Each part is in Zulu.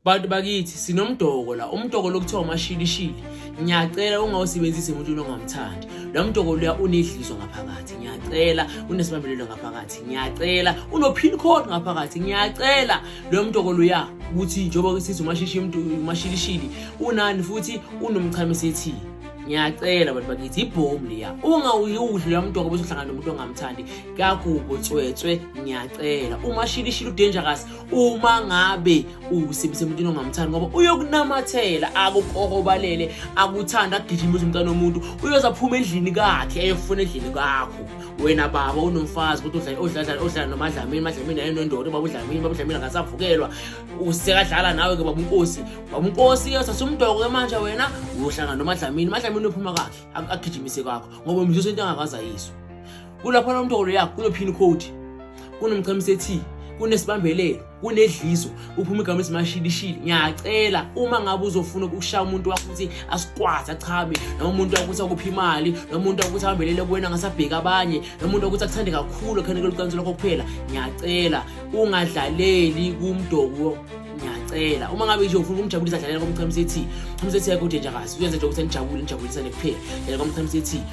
bantu bakithi sinomdoko la umdoko lokuthiwa umashilishili ngiyacela ungawusebenzisi emuntwini ongamthandi lo mdoko luya unedliso ngaphakathi ngiyacela unesibambelelo ngaphakathi ngiyacela uno-pin code ngaphakathi ngiyacela lo mdoko luya ukuthi njengoba sithi umashilishili unani futhi unomchame sethini ngiyacela bantu bakithi ibhomu liya ungawuyudli la mntoko bese uhlangana nomuntu ongamthandi kakubo tswetswe ngiyacela umashilishile udangerous uma ngabe usebenzisa umuntu ongamthandi ngoba uyokunamathela akukohobalele akuthanda agijima uze umntana womuntu uyoze aphuma endlini kakhe eyofuna endlini kakho wena baba unomfazi ukuthi odlala nomadlamini madlamini ayenondoda baba udlamini baba udlamini akasavukelwa usekadlala nawe ke baba unkosi baba unkosi yothatha umdoko-ke manje wena uyohlangana nomadlamini madlamini uyophuma kakhe agijimise kakho ngoba mzuso into angakazayiswa kulapho nomtokolo yakho kuno-pin code kunomchamisa ethi kunesibambelelo kunedliso uphuma igama esimashilishili ngiyacela uma ngabe uzofuna ukushaya umuntu wakho ukuthi asikwazi achabe noma umuntu wakuthi akuphi imali noma umuntu wakuthi ahambelele kuwena ngasabheka abanye noma umuntu wakuthi akuthande kakhulu akhaneke lucansi lwakho kuphela ngiyacela ungadlaleli kumdoko ngiyacela uma ngabe nje ufuna ukumjabulisa dlalela komchamisa ethi umsethi yakho udenjakazi uyenza nje ukuthi anijabule nijabulisane kuphela dlalela komchamisa ethi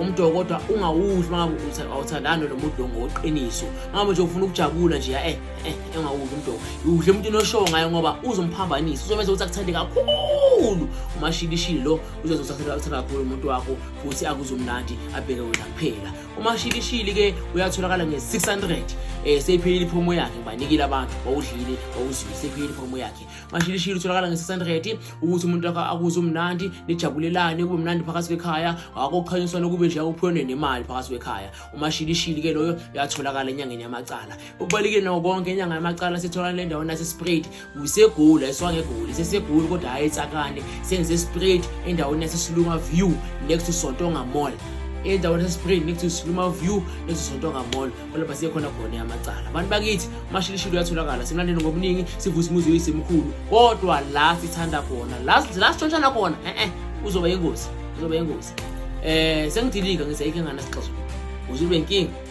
umdoko kodwa ungawudli mangabe awuthandani lo mudoko ngoqiniso mangabe nje ufuna ukujabula nje eh eh engawudli umdoko udle umuntu inoshow ngayo ngoba uzomphambanisa uzomenza ukuthi akuthande kakhulu umashilishili lo uzozenza ukuthi akuthande kakhulu umuntu wakho futhi akuzomnandi abheke wena kuphela umashilishili ke uyatholakala nge-600 um eh, seyiphelile iphomo yakhe ngibanikile abantu wawudlile wawuzwile seyiphelile iphomo yakhe manje ilishilo utholakala ngesasanredi ukuthi umuntu wakho akuze umnandi nijabulelane kube mnandi phakathi kwekhaya akokukhanyiswana kube nje akuphiwe nemali phakathi kwekhaya umashilishili ke loyo uyatholakala enyangeni yamacala okubalike nawo konke inyanga yamacala sithola le ndawo nasesprade kusegoli ayiswangegoli sesegoli kodwa hhayi etsakane senze sprade endaweni yasesiluma view next to sontonga mall endaweni yasesiluma view next to sontonga mall olapha siye khona khona yamacala abantu bakithi umashilishilo uyatholakala simlandeni ngobuningi sivusa umuzi weyisemkhulu kodwa la sithanda khona la sitshontshana khona e-e uzoba yingozi uzoba yingozi um sengidilika ngithi ayikho engane sixozo uze ube nkinga